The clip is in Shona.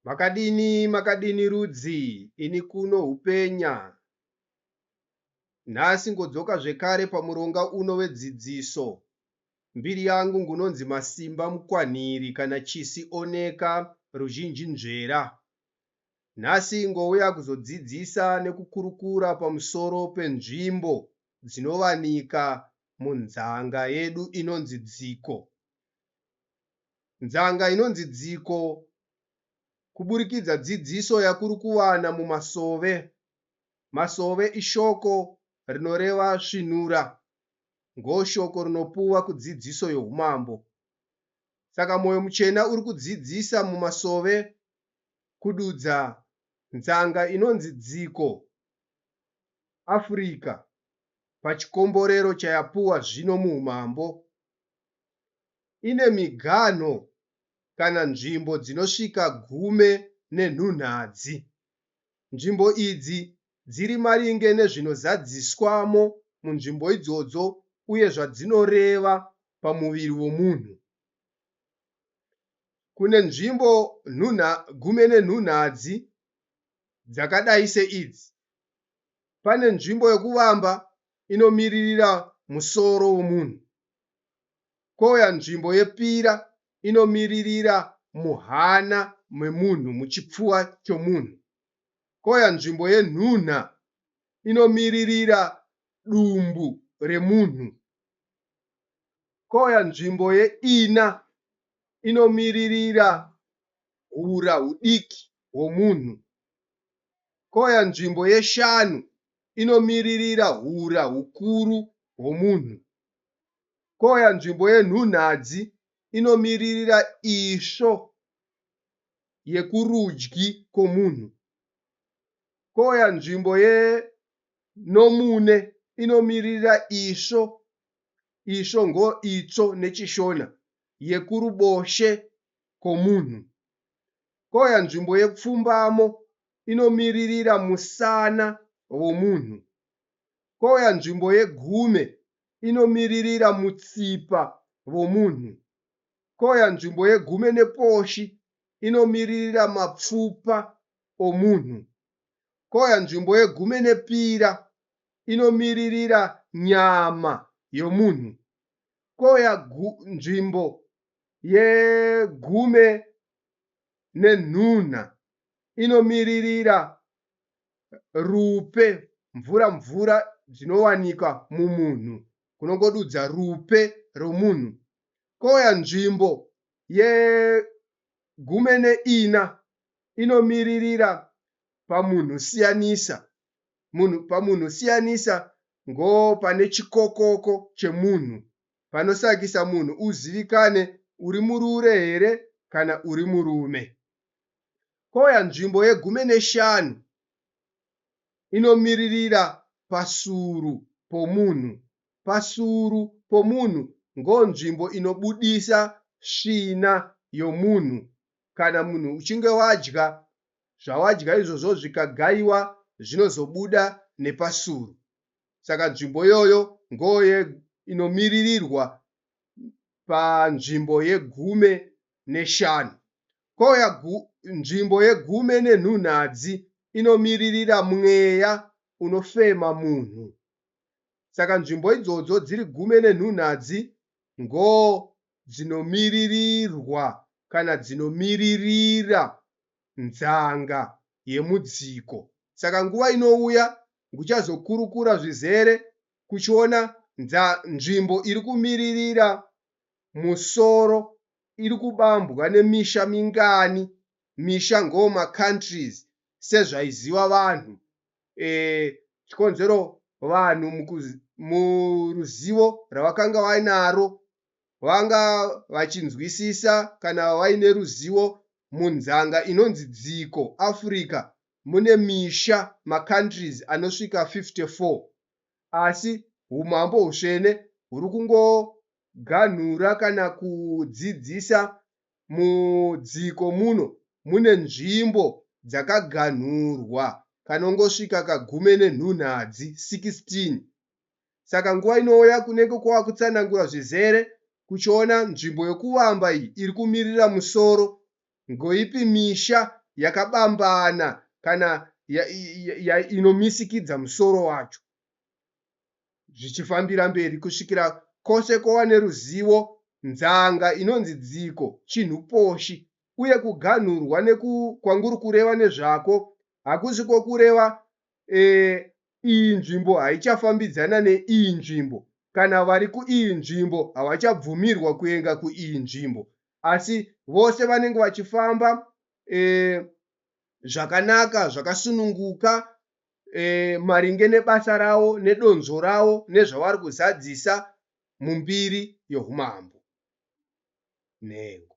Makadini makadini rudzi ini kuno hupenya. Nhasi ngodzoka zvekare pamuronga uno wedzidziso. Mbiri yangu ngunonzi Masimba Mukwanhiri kana Chisi Oneka ruzhinji nzvera. Nhasi ngouya kuzodzidzisa nekukurukura pamusoro penzvimbo dzinovanika munzanga yedu inonzi Dziko. Nzanga inonzi Dziko kuburikidza dzidziso yakuri kuwana mumasove. Masove ishoko rinoreva svinura, ngoshoko rinopuwa kudzidziso yohumambo. Saka Moyo Muchena uri kudzidzisa mumasove kududza nzanga inonzi Dziko, Africa, pachikomborero chayapuwa zvino muhumambo. ine miganho kana nzvimbo dzinosvika gume nenhunhadzi. Nzvimbo idzi dziri maringe nezvinozadziswamo munzvimbo idzodzo uye zvadzinoreva pamuviri womunhu. Kune nzvimbo nhunha, gume nenhunhadzi dzakadai seidzi, pane nzvimbo yokuvamba inomiririra musoro womunhu, kouya nzvimbo yepira inomiririra muhana memunhu muchipfuva chomunhu kouya nzvimbo yenhunha inomiririra dumbu remunhu kouya nzvimbo yeina inomiririra hura hudiki hwomunhu kouya nzvimbo yeshanu inomiririra hura hukuru hwomunhu. kouya nzvimbo yenhunhadzi inomiririra isvo yekurudyi kwomunhu, kouya nzvimbo yenomune inomiririra isvo, isvo ngoitsvo neChiShona, yekuruboshwe kwomunhu, kouya nzvimbo yepfumbamo inomiririra musana womunhu. kouya nzvimbo yegume inomiririra mutsipa vomunhu, kouya nzvimbo yegume neposhi inomiririra mapfupa omunhu, kouya nzvimbo yegume nepira inomiririra nyama yomunhu, kouya nzvimbo yegume nenhunha inomiririra rupe mvura mvura dzinowanika mumunhu kunongodudza rupe romunhu kouya nzvimbo yegume neina inomiririra pamunhu siyanisa munhu pamunhu siyanisa ngo pane chikokoko chemunhu panosakisa munhu uzivikane uri murure here kana uri murume Koya nzvimbo yegumi neshanu inomiririra pasuru pomunhu. Pasuru pomunhu ngonzvimbo inobudisa svina yomunhu kana munhu uchinge wadya, zvawadya izvozvo zvikagaiwa zvinozobuda nepasuru. Saka nzvimbo iyoyo ngoye inomiririrwa panzvimbo yegume neshanu. Koya gu, nzvimbo yegume nenhunhadzi inomiririra mweya unofema munhu. Saka nzvimbo idzodzo dziri gume nenhunhadzi ngo dzinomiririrwa kana dzinomiririra nzanga yemudziko. Saka nguva inouya nguchazokurukura zvizere kuchiona nza, nzvimbo iri kumiririra musoro iri kubambwa nemisha mingani misha ngoo macountries sezvaiziwa vanhu eeh chikonzero vanhu muruzivo ravakanga vainaro vanga vachinzwisisa kana vaine ruzivo munzanga inonzi dziko Africa mune misha macountries anosvika 54 asi humambo husvene huri kungoganhura kana kudzidzisa mudziko muno mune nzvimbo dzakaganhurwa kanongosvika kagume nenhunhadzi 16 saka nguva inouya kunenge kwava kutsanangura zvizere kuchiona nzvimbo yokuvamba iyi iri kumirira musoro Ngoipi misha yakabambana kana ya, ya, ya, inomisikidza musoro wacho? Zvichifambira mberi kusvikira kose kova neruzivo, nzanga inonzi dziko chinhu poshi, uye kuganhurwa neku, kwanguri kureva nezvako hakusi kwokureva e, iyi nzvimbo haichafambidzana neiyi nzvimbo kana vari kuiyi nzvimbo havachabvumirwa kuenga kuiyi nzvimbo asi vose vanenge vachifamba eh, zvakanaka zvakasununguka eh, maringe nebasa ravo nedonzvo ravo nezvavari kuzadzisa mumbiri yohumambo nhengo